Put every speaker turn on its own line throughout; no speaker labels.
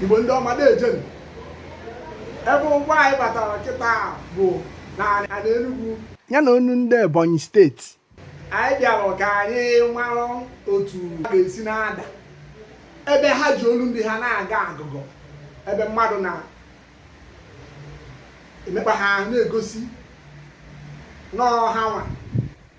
igbo ndị ọma deejenụ ebe ụgbọ anyị batara kịta bụ na Enugu ya na onu ndị Ebonyi steeti anyị bịara ka anyị mara otu ha ga-esi na-ada ebe ha ji olu ndị ha na-aga agụgọ ebe mmadụ na emekpa ha na-egosi na ọọ hanwa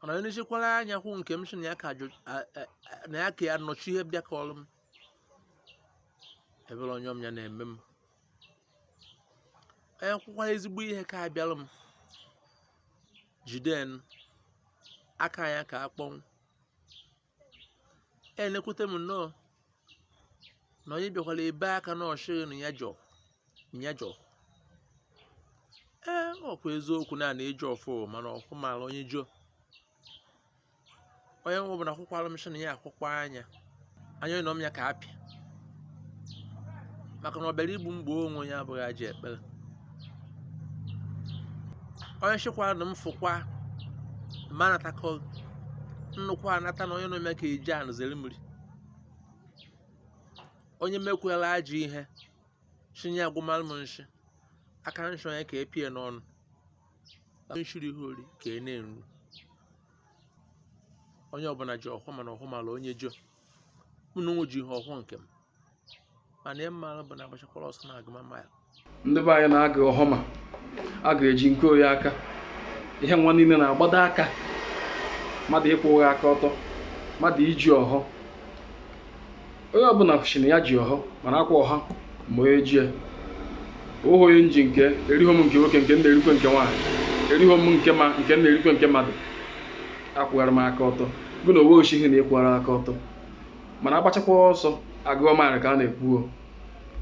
mana onye nchekwara anya kwụ nke m sị na ya ka ajụ- a- a- a- na ya ka ya nọchi ihe bịa ka ọrụ m ebere onye ọm ya na-eme m onye kwụkwara ezigbo ihe ka abịara m jiden aka ya ka akpọnwụ ana-ekwute m nnọọ na onye bịakwara ebe aka na ọchịghị na ya jọ ya jọ ee ọkwa eziokwu na a na-eji ọfọ mana ọhọ mara onye jọ onye ọbụla akwụkwara m shị na ya akwụkwọ anya anya nọ m ya ka apịa maka na ọ bịara igbu m gbuo onwe ya abụghị ajọ ekpere onye shịkwara na m fụkwa ma anatakọ nnukwu anata na onye na-eme ka eji anụ zere mmiri onye mekwela ajọ ihe chinye agwụmalụ m nshi aka nshọ ya ka epie n'ọnụ nshiri ihe ori ka e na-eru onye ọbụla ji ọhọ mana ọhọ mara onye jo mụ na onwe ji ọhọ nke m mana ihe m maara bụ na agbachakwara ọsọ na agụma mile ndị be anyị
na-agọ ọhọ ma a ga-eji nke oyi aka ihe nwa niile na-agbado aka mmadụ ịkwụgha aka ọtọ mmadụ iji ọhọ onye ọbụla shị na ya ji ọhọ mana ọkwa ọhọ ma onye ji ya ọhọ onye nji nke erighom nke nwoke nke m na-erikwe nke nwaanyị erighom nke maa nke m na-erikwe nke mmadụ akwụghara m aka ọtọ gụ na onwe oshihi na ịkwụghara aka ọtọ mana agbachakwa ọsọ agụọ mile ka a na-ekwu ọ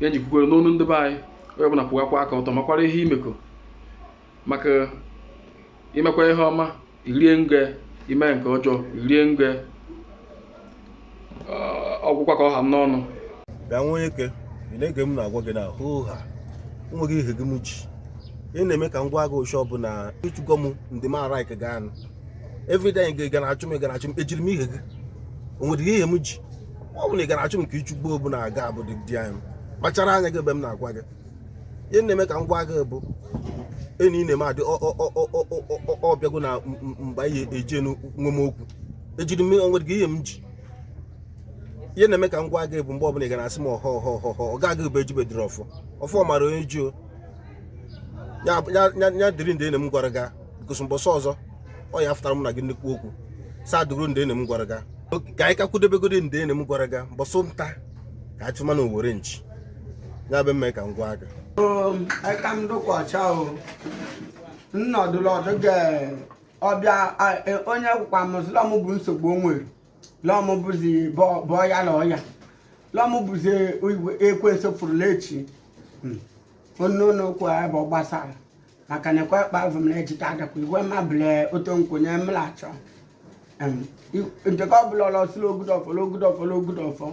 ya m ji kwukwere n'onu ndị be anyị onye ọbụla kwụghakwa aka ọtọ makwara ihe imeko maka imekwa ihe ọma irie nge ime nke ọjọọ irie nge ọgwụkwa ka ọ ha m n'ọnụ bịa nwa onye
ke ị na-ege m na-agwa gị na hoo ha nweghị ihe gị m ji ị na-eme ka ngwa agha ụbọchị ọbụla ịchụgo m ndị m ara ike gaa nụ everyday ị ga na-achụ m ị ga na-achụ m ejiri m ihe gị o nwere ihe m ji ọ bụ na ị ga na-achụ m ka ịchụgbo bụ na aga abụ dị di anyị kpachara anya gị ebe m na-agwa gị ihe na-eme ka ngwa agha bụ enyi ị na-eme adị ọbịago na mgbe anyị eje nwe m okwu ejiri m o nweghị ihe m ji ihe na-eme ka m gwa gị bụ mgbe ọbụla ị ga na-asị m ọhọ ọhọ ọhọ ọhọ ọ gaghị bụ ejibe dịrị ọfọ ọfọ mara onye ji o ya ya- ya- ya dịrị ndị enyi m gwara gị gosi mbọsị ọzọ ọ ya-afụtara mụ na gị nnukwu okwu saa dịrị ndị enyi m gwara gị Oke, ka anyị ka kwudebegodi ndị enyi m gwara gị mbọsị nta ka a chụma na owere nchi ya be mme ka m gwa gị Eka m
dụkwa ọcha o. Nnọdụlọdụ ga ọbịa a- e- onye kwukwa m sị lọm bụ nsogbu o nwere lọm bụzi bọ- bọọ ya na ọya lọm bụzi igwe- ekwensu fụrụla echi onye ụlọ okwu a bụ gbasara maka na ekwe kpa avụ m na ejite adakwa ihe mabụle oto nkwenye m na-achọ nteke ọbụla ọla ọ sị la o gude ọfọ o gude ọfọ o gude ọfọ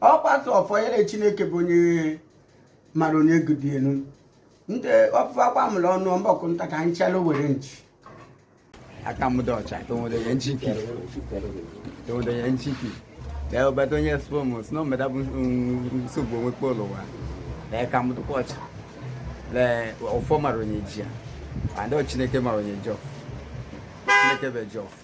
ọ kwasị ọfọ ya na chineke bụ onye mara onye gude ya nụ ndị ọpụpụ akwa mụrụ ọnụ mbọkụ nta ka anyị chalụ owere
nchi aka m dị ọcha tonwodonye nchiki tonwodonye nchiki lee obata onye spom si na omeda bụ nsogbu o nwekpọ l'ụwa l'eka m dịkwa ọcha le ọfọ mara onye ji ya ma ndị chineke mara onye ji ọfọ chineke bụ ji ọfọ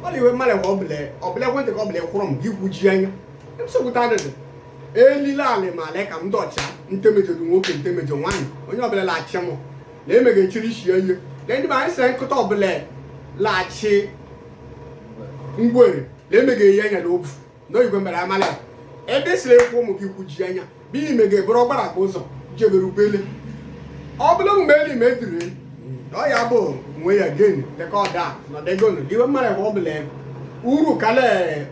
mmadụ iwe mmadụ ka ọ bụla ọ bụla nteke ọ bụla ekwuru m gị kwuchi anya nsogbuta adịdị eli le alị ma l'eka m dị ọcha ntemejo dị nwoke ntemejo nwaanyị onye ọbụla la-achị m na emega echiri isi ya ihe na ndị ba anyị sị nkụta ọbụla la-achị ngwere na emega ihe anya na ofu n'oyibo mere amala ebe siri ekwu ụmụ gị kwuji anya bụ ime ga-eburu ọgbara akpa ụzọ jebere ubele ọ bụla omume elu ime ediri ọ ya bụ nwe ya gen dịka ọda nọdegonu diwe mmadụ ebe ọ bụla uru kala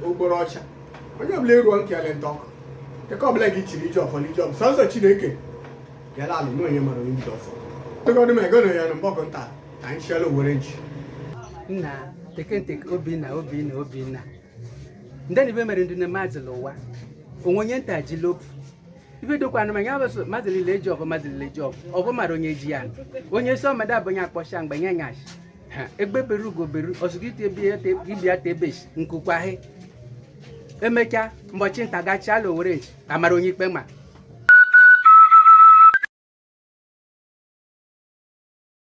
okporo ọcha onye ọbụla eruo nkele nteke ọbụla gị chiri i ji ọfọ n'i ji ọ bụ sọsọ chineke bịala alụ na onye mara onye ji ọfọ tụgodị m ego na ya na mbọkụ nta ka anyị chiela owere nchi nna
tekenteke obinna obinna obinna ndị na ibe mere ndị na mazị l'ụwa onwe onye nta ji lopu ibe dokwa anụ manya abụsụ mazị lile eji ọfọ mazị lile eji ọfọ ọfọ mara onye ji ya onye sị mmadụ abụnye akpọcha mgbe nye nyashi ha egbe bere ugo bere ọ sụkọ ite ebe ya te- ibe ya te ebeshi nku kwaa he emechaa mbọchị nta ga-achịa la owere nchi ka a mara onye ikpe ma